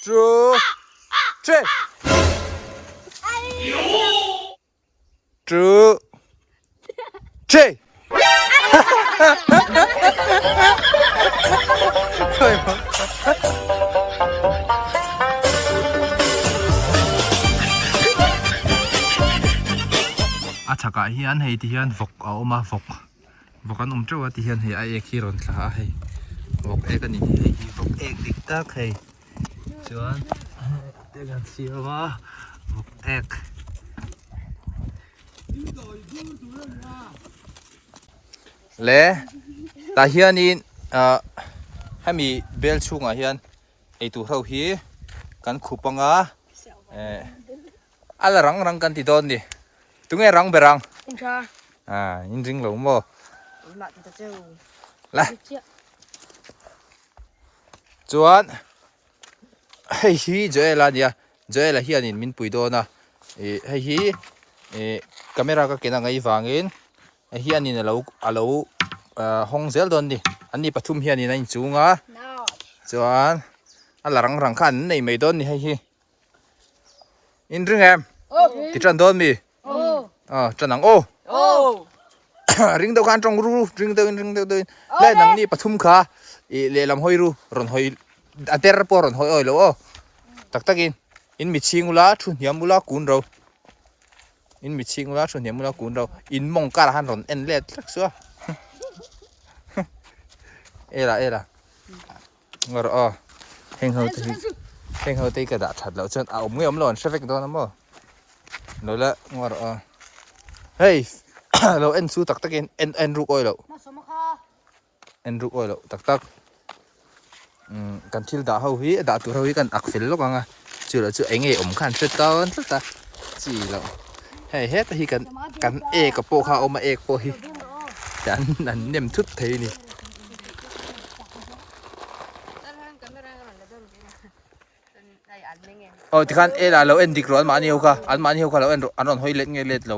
True. Che. True. Che. A chhakah hian hei ti hian vawk a awm a vawk. Vawk an awm teuh a ti hian hei a ek hi rawn tla a hei vawk ek a ni hei hi vawk ek dik tak hei chuan hetiang hian siam a vawk ek le tah hianin ah hemi bel chhungah hian eitur ho hi kan khup anga eh. Ala rang rang kan ti dawn ni. Tunge rang ber ang? In tha. Ah, in ring lo maw? In mah ti ta che u. La. Chuan hei hi Joel a nia. Joel a hian in min pui dawn a. E hei hi e camera ka kena ngei vangin a hian in alo alo hawng zel dawn ni. An ni pathum hian in a inchung a. Chuan ala rang rang kha an nei mai dawn ni hei hi. in ring em ti tan dawn mi a tan ang aw ring deuh khan tawng ru ring deuhin ring deuh deuhin le nang ni pathum kha i lehlam hawi ru rawn hawi a der pawh rawn hawi awilo aw tak tak in in mi chhing ula thu hniam ula kun ro in mi chhing ula thu hniam ula kun ro in mawng kar han rawn en let thlek suah ela ela Ngar aw, heng ho te hi, heng ho te ka dah that lo chuan a awm nge awm lo an hre vek dawn a maw? Lo la ngar aw. Hei, lo en chu tak takin en en ruk awilo. En ruk awilo tak tak. Kan thil dah ho hi, dah tur ho hi kan ak fel lawk ang a. Chulai chu eng nge awm kha an hre tan tlat a chi lo hei heta hi kan kan ek a pawh kha a awm a ek pawh hi kan an nem thut thei a ni aw tikhan ela lo en dik rawh anmahni ho kha anmahni ho kha lo en rawh an rawn hawi let nge let lo.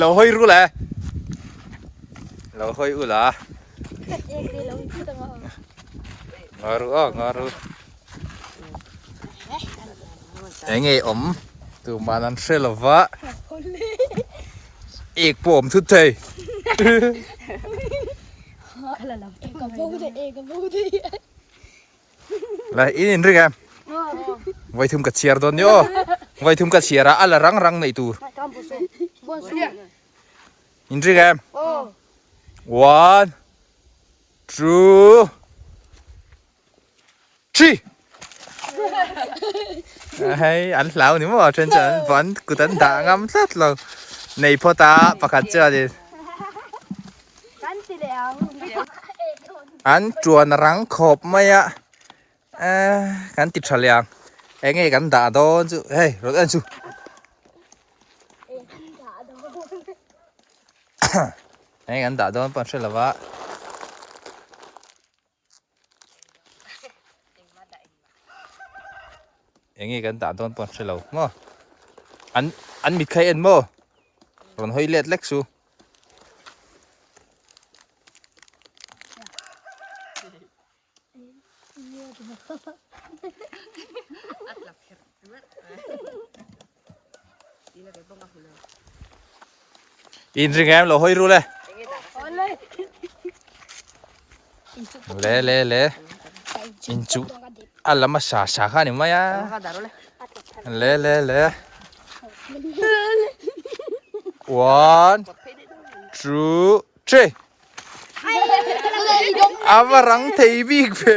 Lo hoi ru la. Lo hoi u la. Nga ru a, nga ru. Eng e om. Tu ma nan hre lo va. Ek po om thut thei. Kala lam. Ka bo de, ka bo de. Lai in in ring em. Vai thum ka chiar don yo. Vai thum ka chiar a ala rang rang nei tur. In ring em. One, two, three. Hey, an hlau ni mo a chen chen van kutan da ngam tlat lo. Nei phota pakhat chu a Kan ti leh ang. An chuan rang khawp mai a. Eh, kan ti tha leh ang. Eng e kan dah dawn chu. Hei, rawt en chu. Eng kan dah dawn pawh hre lova. Engi kan dah dawn pawh hrelo maw? An an mithlai en maw? Rawn hawi let lek chu. in ring em lo hoi ru le le le le in chu alama sa sa kha ni mai a le le le one two three avarang thei bik ve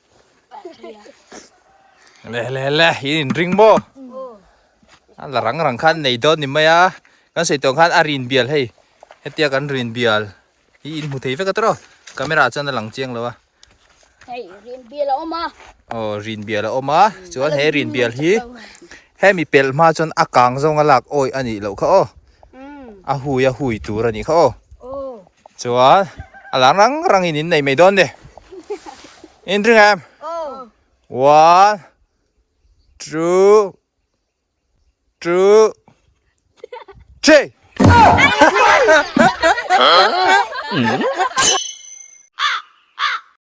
le le le hi in ring bo a la rang rang khan nei don ni mai a kan sei tawng khan a rin bial hei hetia kan rin bial hi in mu thei vek a tro camera chuan a lang chiang lo a hei rin bial a oma o oh, rin bial a oma chuan he rin bial hi he mi pel ma chuan a kang zong a lak oi ani lo kha o a hui a hui tur a nih kha aw chuan a lang rang rang in in nei mai dawn de in ring em one two two three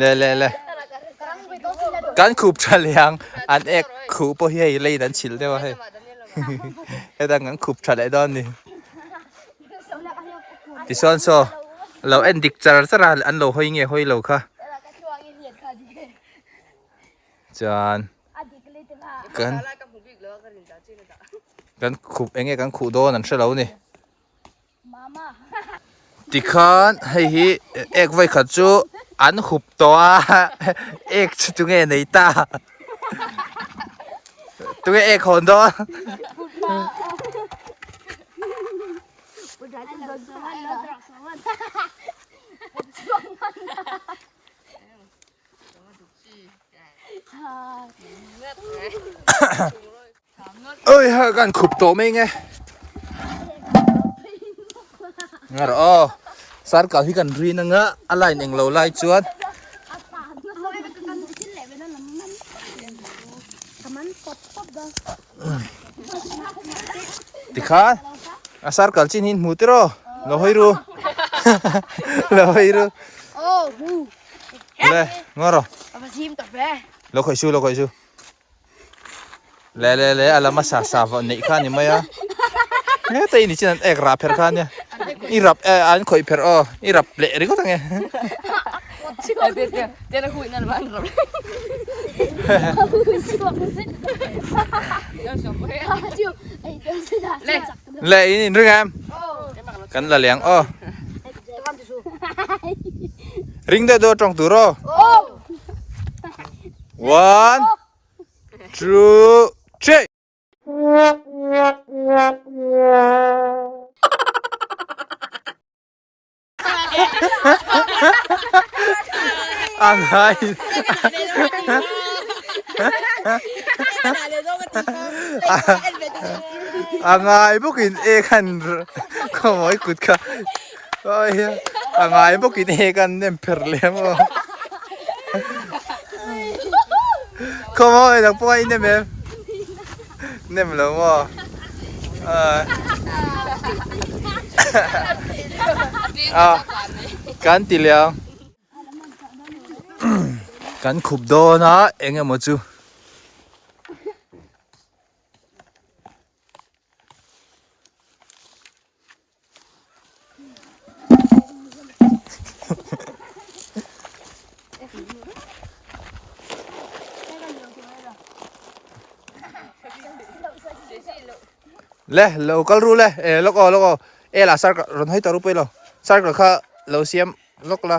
le le le kan khup tha liang an ek khu po hi hei lei dan chil deuh a hei he dan kan khup tha leh don ni ti son so lo en dik char char an lo hoi nge hoi lo kha chuan kan kan khup eng nge kan khuh dawn an hre lo ni ti khan hei hi ek vai khat chu an hup tawh a ek chu chu nge nei ta tu nge ek hawn dawn Oi, kan khup tawh mai nge. Ngar o. Sar kal hi kan rin anga a line eng lo lai chuan. Tikhan, a sar kal chin hin hmu tiro. Lo hoi ru. Lo hoi ru. le ngar ro lo khoi su lo khoi su le le le ala ma sa sa va nei kha ni mai a ne te ni chin ek ra pher kha ne i rap e an khoi pher o i rap le ri ko tange te na hui na ma an rap le le in in ring em kan la leng o ring de do tong tu ro one two three Ang hai. Ang hai bukin e kan komoi kut ka. Oi. Ang hai bukin e kan nem per lem o. Komoi lang po ai nem em. Nem lo maw? Ah, kan ti liang. Kan khup dawn a eng emaw chu. le lo kal ru le e lok o lok o e la sar ka ron hai ta ru pui lo sar ka kha lo siam lok la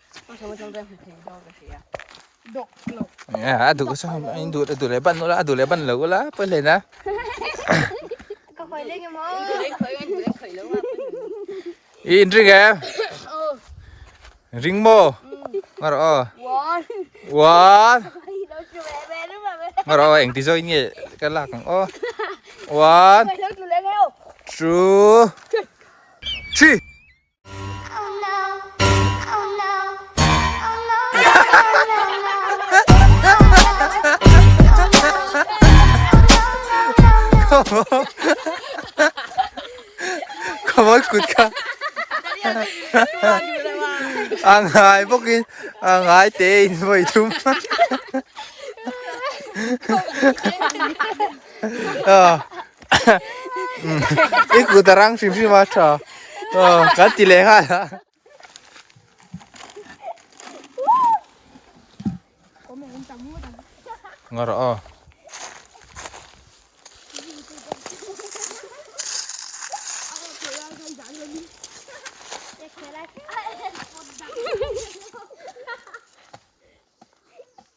a duh sa ham anh duh duh le ban lo a duh le ban lo la poi le na ka khoi le mo i in ring em ring mo ngar o wan ngar o eng ti zoi nge ka lak ang o wan two three khawbawr kut kha a ngai bawkin a ngai tein vawi thum a i ku ta rang hrim hrim a tha kan ti leh khan ngar a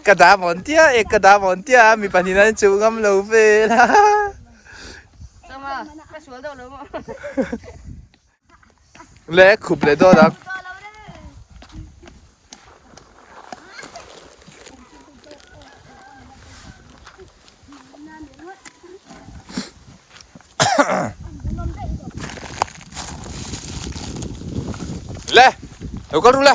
Ka dah mawn tia e, ka dah mawn tia a, mi pahnihin an inchuh ngam lo vel a. Chama, ka sual deuh lo maw? Le, khup leh dawn ang. Le, lo kal ru le.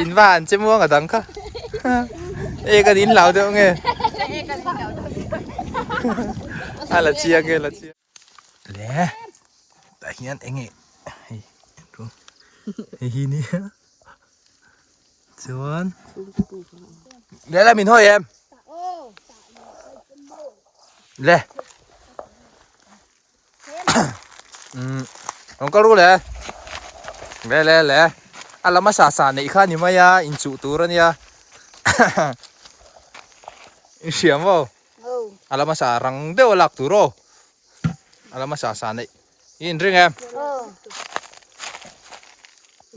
in va an che muang a dang kha e kan in lau deuh nge a la chia nge la chia le ta hian enge hei ru hei hi ni chuan le la min hoi em le um rawn kal ru le le le le a lama sa sa neih kha ni mai a in chuh tur ania i hriam aw a lama sa rang deuh lak tur aw a lama sa sa neih i in ring em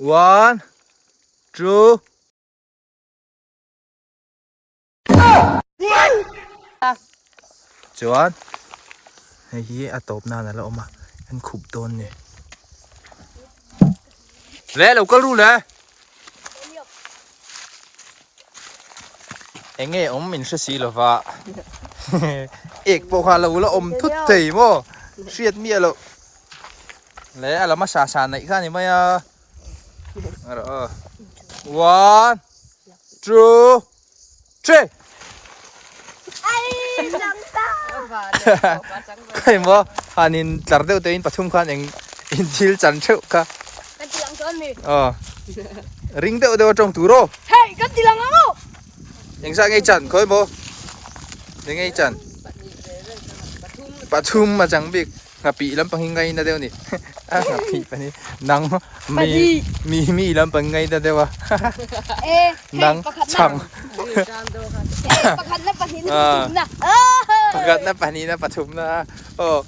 one two chuan hei hi a tawp nan ala awm a an khup dawn ni le lo kal ru le eng nge awm min hre si lova ek pawh kha lo la awm thut thei mo hriat mi alo le ala ma sa sa nei kha ni mai a ara one two Che! Ai, lang ta! Kai mo, han in tlar deuh tein pathum khan eng in thil chan theuh ka. Kan tilang chuan mi. Ờ. Ring deuh deuh atong tur o. Hei, kan tilang ang o. Eng zah ngei chan khawih mo. Ni ngei chan. Pathum a chang bik. Ngapih lampang hi ngaina deuh ni. A ngapih pani. Nang mi mi mi lampang ngaina deuh a. Nang chang. Pakhatna pahnih na pathumna. Pakhatna pahnih na pathumna. Oh.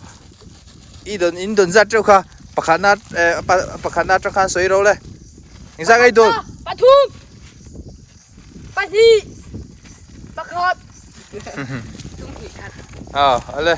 I don in don zat teuh kha. Pakhatna pakhatna tang khan soi ro le. Engzah ngai don. Pathum. Pahnih. Pakhat. Tum hnih khat. Ah, ale.